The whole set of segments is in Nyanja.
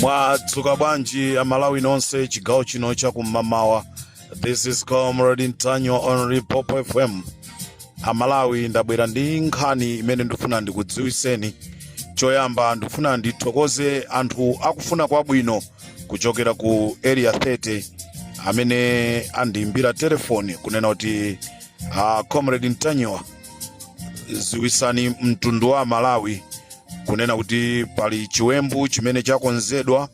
mwadzuka bwanji amalawi nonse chigawo chino chakum'mamawa this is comrade ntanyiwa on limpopo fm amalawi ndabwera ndi nkhani imene ndifuna ndikudziwiseni choyamba ndifuna ndithokoze anthu akufuna kwabwino kuchokera ku area 30 amene andiimbira telefoni kunena kuti uh, comrade ntanyiwa ziwisani mtundu wa malawi kunena kuti pali chiwembu chimene chakonzedwa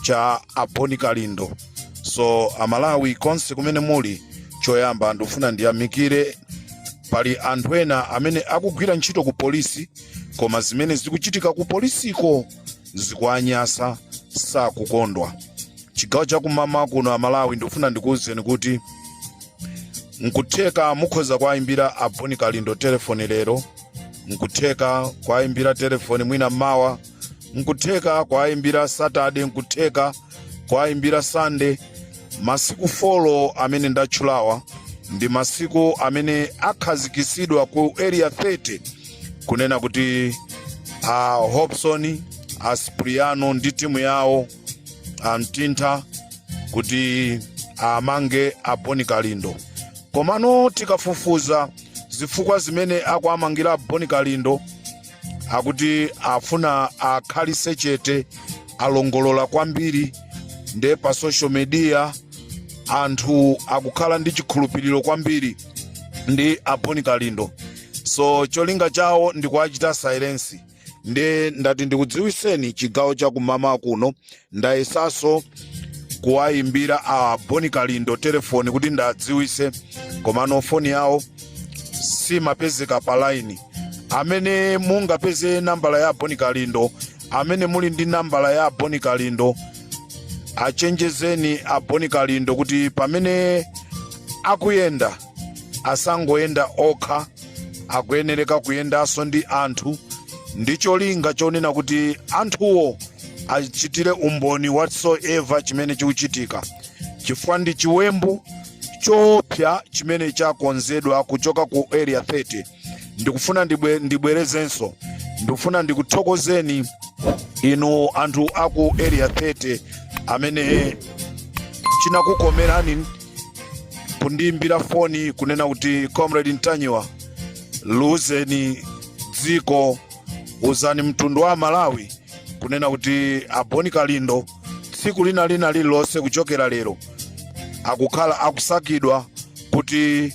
cha aboni kalindo so amalawi konse kumene muli choyamba ndikufuna ndiyamikire pali anthu ena amene akugwira ntchito ku polisi koma zimene zikuchitika ku polisiko zikuanyasa sakukondwa chigawo chakum'mamawa kuno amalawi ndikufuna ndikuwuzeni kuti nkutheka mukhoza kuwayimbira aboni kalindo telefoni lero nkutheka kuwayimbira telefoni mwina mawa nkutheka kuwayimbira satade nkutheka kuwayimbira sande masiku folo amene ndatchulawa ndi masiku amene akhazikisidwa ku area 30 kunena kuti a hobson a spriano ndi timu yawo amtintha kuti aamange aboni kalindo komano tikafufuza zifukwa zimene akuamangira aboni kalindo akuti afuna akhalise chete alongolola kwambiri nde pa social media anthu akukhala ndi chikhulupiriro kwambiri ndi aboni kalindo so cholinga chawo ndi kuachita silence nde ndati ndikudziwiseni chigawo cha kum'mamawa kuno ndayesaso kuwayimbira a boni kalindo telefoni kuti ndadziwise komano foni yawo simapezeka pa laini amene mungapeze nambala ya boni kalindo amene muli ndi nambala ya boni kalindo achenjezeni a boni kalindo kuti pamene akuyenda asangoyenda okha akuyenereka kuyendanso ndi anthu ndi cholinga chonena kuti anthuwo achitire umboni whatsoever chimene chikuchitika chifukwa ndi chiwembu choopsa chimene chakonzedwa kuchoka ku area 30 ndikufuna ndibwe, ndibwerezenso ndikufuna ndikuthokozeni inu anthu aku area 30 amene chinakukomerani kundiimbira foni kunena kuti comrade ntanyiwa liuzeni dziko uzani mtundu wa malawi kunena kuti aboni kalindo tsiku lina lina lililonse kuchokera lero akukhala akusakidwa kuti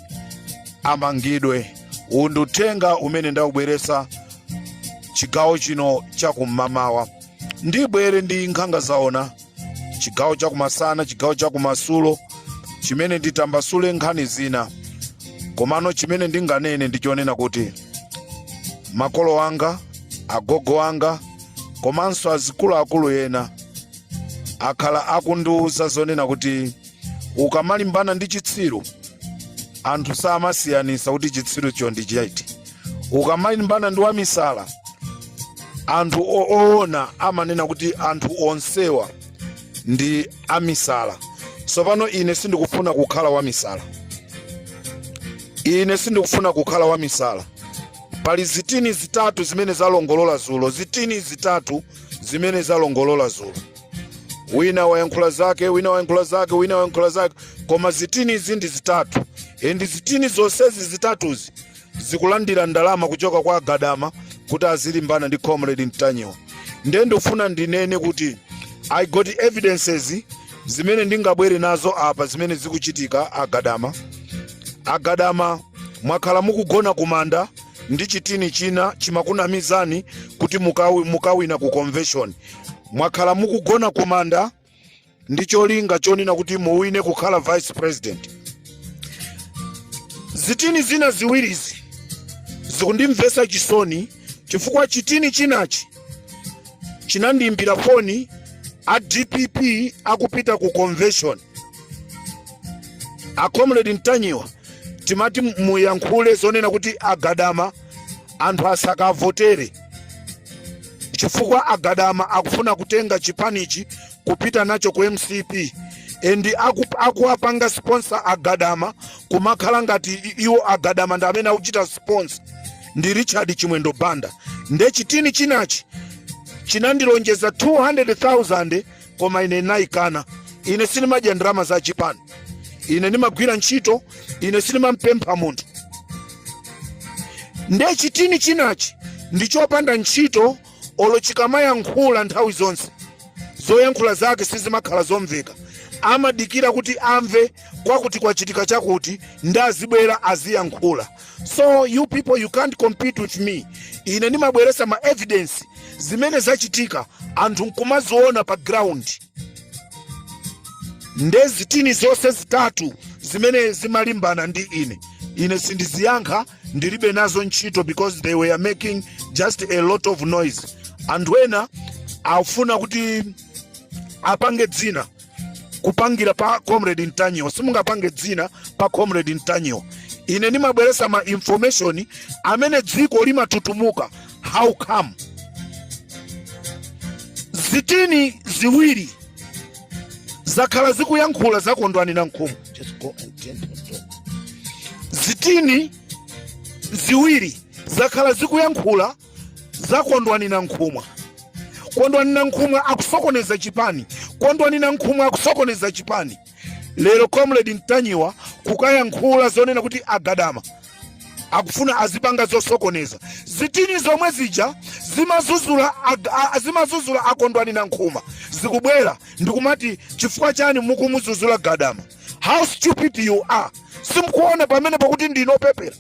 amangidwe uwu ndi uthenga umene ndawubweretsa chigawo chino chakum'mamawa ndibwere ndi nkhanga zaona chigawo chakumasana chigawo chakumadzulo chimene nditambasule nkhani zina komano chimene ndinganene ndichonena kuti makolo anga agogo anga komanso azikuluakulu ena akhala akundiwuza zonena kuti ukamalimbana ndi chitsiru anthu samasiyanisa kuti chitsirucho ndi chiti ukamalimbana ndi wamisala anthu o- oona amanena kuti anthu onsewa ndi amisala tsopano ine sindikufuna kukhala wamisala ine sindikufuna kukhala wamisala pali zitini zitatu zimene zalongolola zulo zitini zitatu zimene zalongolola zulo wina wayankhula zake wina wayankhula zake wina wayankhula zake koma zitini izi ndi zitatu and zitini zonsezi zitatuzi zikulandira ndalama kuchoka kwa a gadama kuti azilimbana ndi comrade ntanyiwa nde ndifuna ndinene kuti i got evidences zimene ndingabwere nazo apa zimene zikuchitika a gadama A Gadama, mwakhala mukugona kumanda ndi chitini china chimakunamizani kuti mukawina ku convention. Mwakhala mukugona kumanda ndi cholinga chonena kuti muwine kukhala vice president. Zitini zina ziwirizi zikundimvetsa chisoni chifukwa chitini chinachi chinandiimbira foni a DPP akupita ku convention a comrade ntanyiwa timati muyankhule zonena kuti a gadama anthu asakavotere chifukwa a gadama akufuna kutenga chipanichi kupita nacho ku mcp and akuwapanga sponsor a gadama kumakhala ngati iwo a gadama ndi amene akuchita sponsor ndi richard chimwendo banda nde chitini chinachi chinandilonjeza 200,000 koma ine ndinayikana ine sindimadya ndalama za chipani ine ndimagwira ntchito ine sindimampempha munthu nde chitini chinachi ndi chopanda ntchito olo chikamayankhula nthawi zonse zoyankhula zake sizimakhala zomveka amadikira kuti amve kwakuti kwachitika chakuti nde azibwera aziyankhula so you people you can't compete with me ine ndimabweresa ma evidence zimene zachitika anthu nkumaziona pa ground nde zitini zonse zitatu zimene zimalimbana ndi ine ine sindiziyankha ndilibe nazo ntchito because they were making just a lot of noise anthu ena afuna kuti apange dzina kupangira pa comrade ntanyiwa simungapange dzina pa comrade ntanyiwa ine ndimabweresa ma information amene dziko limatutumuka how come zitini ziwiri zakhala zikuyankhula zakondwani na nkhumu zitini ziwiri zakhala zikuyankhula za kondwani nankhumwa kondwani nankhumwa akusokoneza chipani kondwani nankhumwa akusokoneza chipani lero comrade ntanyiwa kukayankhula zonena kuti agadama akufuna azipanga zosokoneza zitini zomwe zija zimazuzula ag- a- a- zimazuzula akondwani nankhumwa zikubwera ndikumati chifukwa chani mukumuzuzula gadama how stupid you are simkuona pamene pakuti ndinu opepera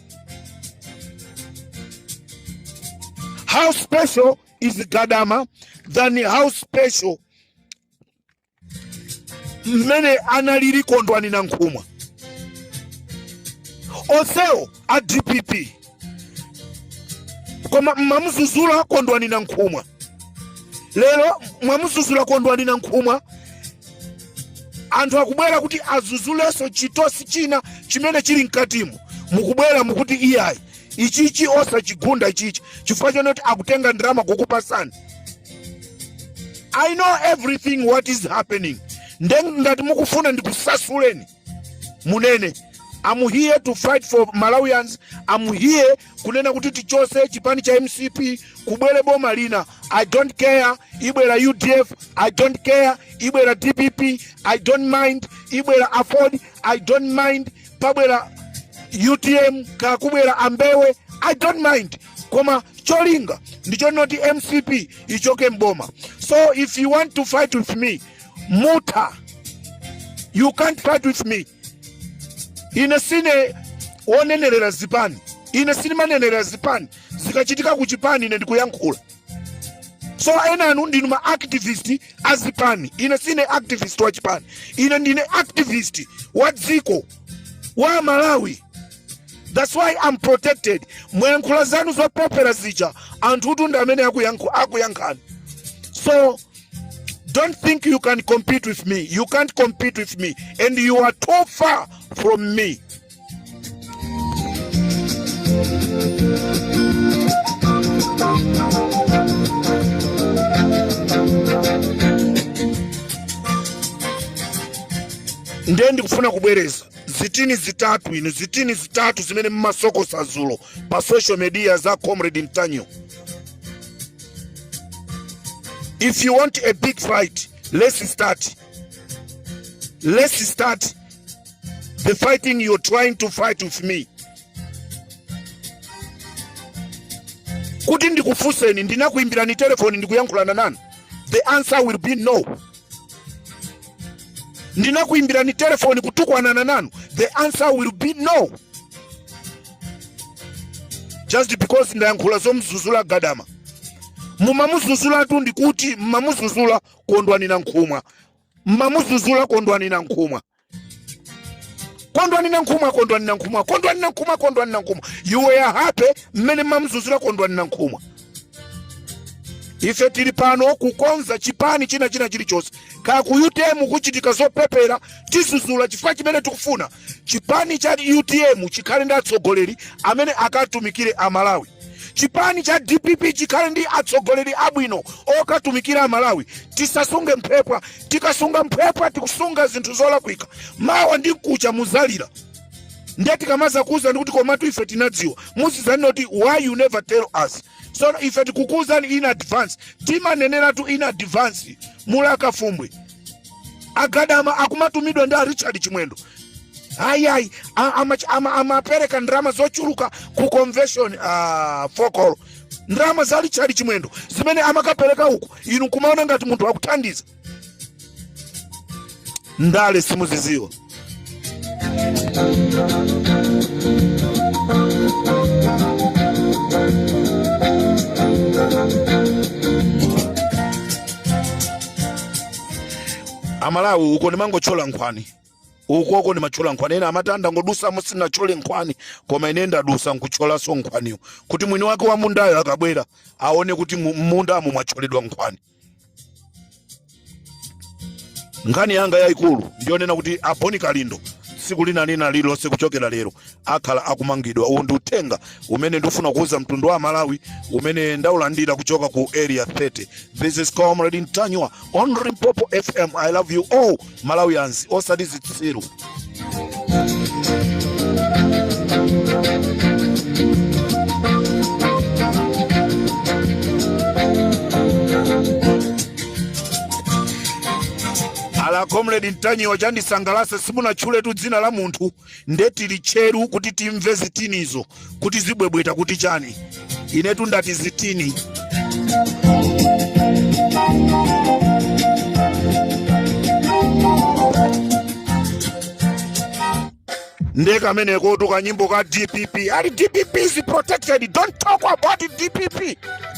how special is gadama than how special mmene analili kondwani nankhumwa onsewo a dpp koma mmamuzuzula kondwani nankhumwa lero mwamuzuzula kondwani nankhumwa anthu akubwera kuti azuzulenso chitosi china chimene chili mkatimo mukubwera mukuti iyayi ichichi osachigunda ichichi chifukwa chonoti akutenga ndalama kukupasani i know everything what is happening nde ngati mukufuna ndikusasuleni munene I'm here to fight for Malawians. I'm here kunena kuti tichose chipani cha MCP kubwere boma lina. I don't care ibwera UDF, I don't care ibwera DPP, I don't mind ibwera Aford, I don't mind pabwera UTM kaya kubwera ambewe, I don't mind. Koma cholinga ndichonoti MCP ichoke mboma. So if you want to fight with me, muta you can't fight with me ine sine wonenerera zipani ine sindimanenerera zipani zikachitika ku chipani ine ndikuyankhula so enanu ndinu ma activist a zipani ine sine activist wa chipani ine ndine activist wa dziko wa malawi that's why i'm protected mwayankhula zanu zopepera zija anthu utu ndi amene akuyankhu- akuyankhani so Don't think you can compete with me. You can't compete with me. And you are too far from me. nde ndikufuna kubwereza zitini zitatu inu zitini zitatu zimene mmasokosa zulo pa social media za comrade ntanyiwa If you want a big fight, let's start. Let's start the fighting you're trying to fight with me. Kuti ndikufunseni ndinakuimbirani telefoni ndikuyankhulana nanu. The answer will be no. ndinakuimbirani telefoni kutukwanana nanu the answer will be no just because ndayankhula zomzuzula gadama mumamuzuzulatu ndikuti mmamuzuzula kondwani nankhumwa mmamuzuzula kondwani nankhumwa kondwani nankhumwa kondwani nankhumwa kondwani nankhumwa kondwani nankhumwa you were happy mmene mmamuzuzula kondwani nankhumwa ife tili pano kukonza chipani china china chilichonse kaya ku utm kuchitika zopepera tizuzula chifukwa chimene tikufuna chipani cha utm chikhale ndi atsogoleri amene akatumikire amalawi chipani cha dpp chikhale ndi atsogoleri abwino okatumikira amalawi tisasunge mphwepwa tikasunga mphwepwa tikusunga zinthu zolakwika mawa ndi mkucha muzalira ndiye tikamazakuwuzani kuti komatu ife tinadziwa muzizanena kuti why you never tell us so ife tikukuwuzani in advance timaneneratu in advance muli akafumbwe agadama akumatumidwa ndi a richard chimwendo ayi ayi amapereka ndalama zochuluka ku convention ah, fokolo ndalama za richard chimwendo zimene amakapereka uko inu nkumaona ngati munthu akuthandiza ndale simuziziwa amalawi uko ndimangotchola nkhwani ukoko ndimatchola nkhwani ena amati ndangodusamo sinatchole nkhwani koma ine ndadusa nkutcholaso nkhwaniyo kuti mwini wake wa mundayo akabwera aone kuti m'mundamo mwatcholedwa nkhwani nkhani yanga yayikulu ndiyonena kuti a boni kalindo tsiku lina lina lililonse kuchokera lero akhala akumangidwa uwu ndi uthenga umene ndikufuna kuuza mtundu wa malawi umene ndaulandira kuchoka ku area 30 this is comrade ntanyiwa on limpopo fm i love you all malawians osati zitsiru ala comrade ntanyiwa chandisangalasa simunatchuletu dzina la munthu nde tili tcheru kuti timve zitinizo kuti zibwebweta kuti chani inetu ndati zitini nde kamenekotu kanyimbo ka dpp ali dpp is protected don't talk about dpp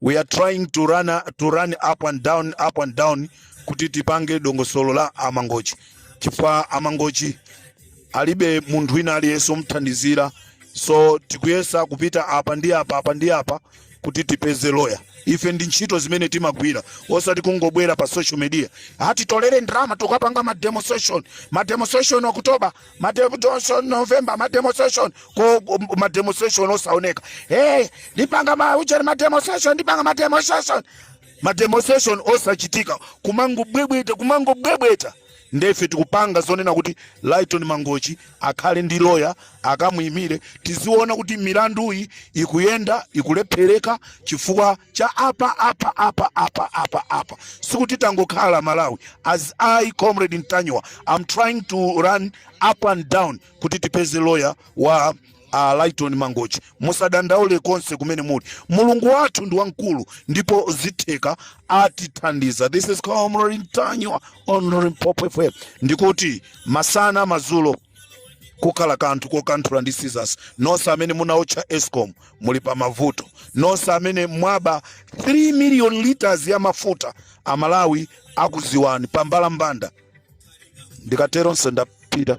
we are trying to run, up and down kuti tipange dongosolo la amangochi chifukwa amangochi alibe munthu wina aliyense omthandizira so tikuyesa kupita apa ndi apa apa ndi apa kuti tipeze loya ife ndi ntchito zimene timagwira osati kungobwera pa social media ati tolere ndalama tikapange ma demonstration ma demonstration oktoba mademonstration november mademonstration ko ko- mademonstration osaoneka hey ndipanga ma ujeni mademonstration ndipanga mademonstration mademonstration osachitika kumangobwebweta kumangobwebweta ndefe tikupanga zonena kuti lighton mangochi akhale ndi loya akamuyimire tiziona kuti milanduyi ikuyenda ikulephereka chifukwa cha apa apa apa apa apa apa sikuti tangokhala malawi as i comrade ntanyiwa am trying to run up and down kuti tipeze lawyer wa uh, lighton mangochi musadandaule konse kumene muli mulungu wathu ndi wamkulu ndipo zitheka atithandiza this is comrade ntanyiwa on limpopo fm ndikuti masana mazulo kukhala kanthu kokanthula ndi scissors nonse amene munaotcha escom muli pa mavuto nonse amene mwaba 3 million liters ya mafuta amalawi akuziwani pa mbalambanda ndikatero nsendapita